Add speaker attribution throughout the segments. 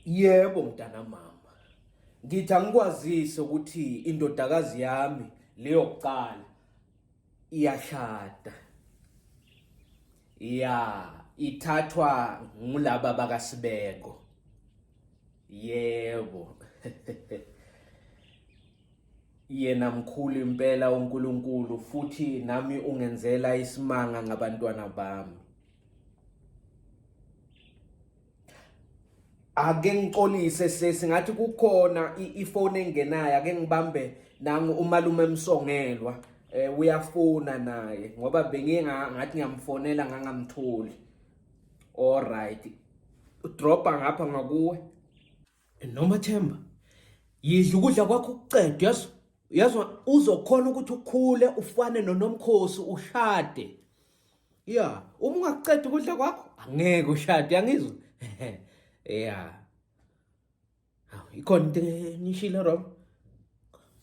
Speaker 1: Yebo mntana mama. Ngithi angikwazise ukuthi indodakazi yami leyo kuqala iyashada. Ya, ithathwa ngulaba bakaSibeko. Yebo. Yena mkhulu impela uNkulunkulu futhi nami ungenzela isimanga ngabantwana bami. ake ngixolise sesi ngathi kukhona ifone engenayo ake ngibambe nangu umalume emsongelwa eh uyafuna naye ngoba benginga ngathi ngiyamfonela ngangamtholi all right udropa ngapha ngakuwe Noma Themba, yidla ukudla kwakho ukucede yazi. Uyazwa uzokhona ukuthi ukhule ufane noNomkhosi ushade. Yeah, uma ungaqedi ukudla kwakho angeke ushade angizwa. Yeah. Hawu ikhona into enishile wrong.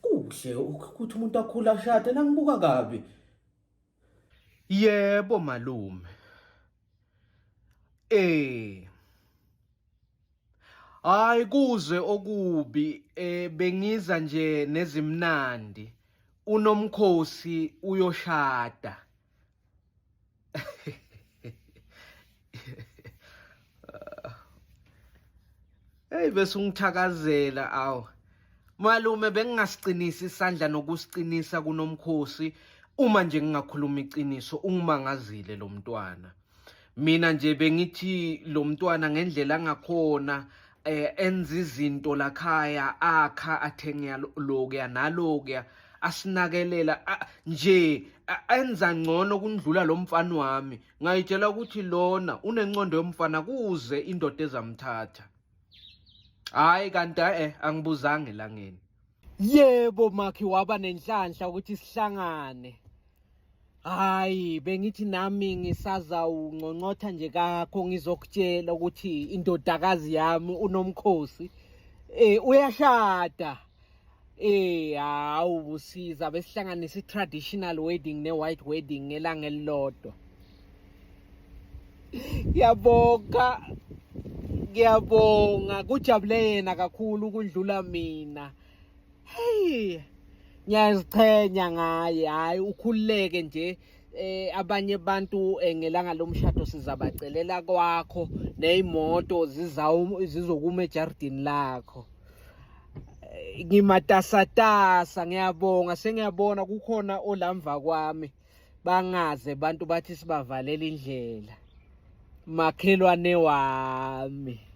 Speaker 1: Kuhle ukuthi umuntu akhula ashade nangibuka kabi. Yebo malume. Eh Hayi kuzwe okubi eh bengiza nje nezimnandi unomkhosi uyoshada Hey bese ungithakazela aw. Malume bengingasiqinisa isandla nokusiqinisa kunomkhosi uma nje ngingakhuluma iqiniso ungimangazile lo mntwana. Mina nje bengithi lo mntwana ngendlela angakhona eh enza izinto lakhaya akha athenga lokuya nalokuya asinakelela nje enza ngcono kundlula lo mfana wami ngayitshela ukuthi lona unencondo yomfana kuze indoda ezamthatha hayi kanti eh angibuzange langeni yebo makhi waba nenhlanhla ukuthi sihlangane hayi bengithi nami ngisazawungqongqotha nje kakho ngizokutshela ukuthi indodakazi yami unomkhosi eh uyashada Eh hawu busiza besihlanganisa i-traditional wedding ne-white wedding ngelanga elilodwa. Ngiyabonga. Ngiyabonga kujabule yena kakhulu ukudlula mina. Hey. Ngiyaziqhenya ngaye. Hayi ukhululeke nje eh abanye abantu eh, ngelanga lomshado sizabacelela kwakho nezimoto zizawu zizokuma ejardini lakho eh, ngimatasatasa ngiyabonga sengiyabona kukhona olamva kwami bangaze abantu bathi sibavalele indlela makhelwane wami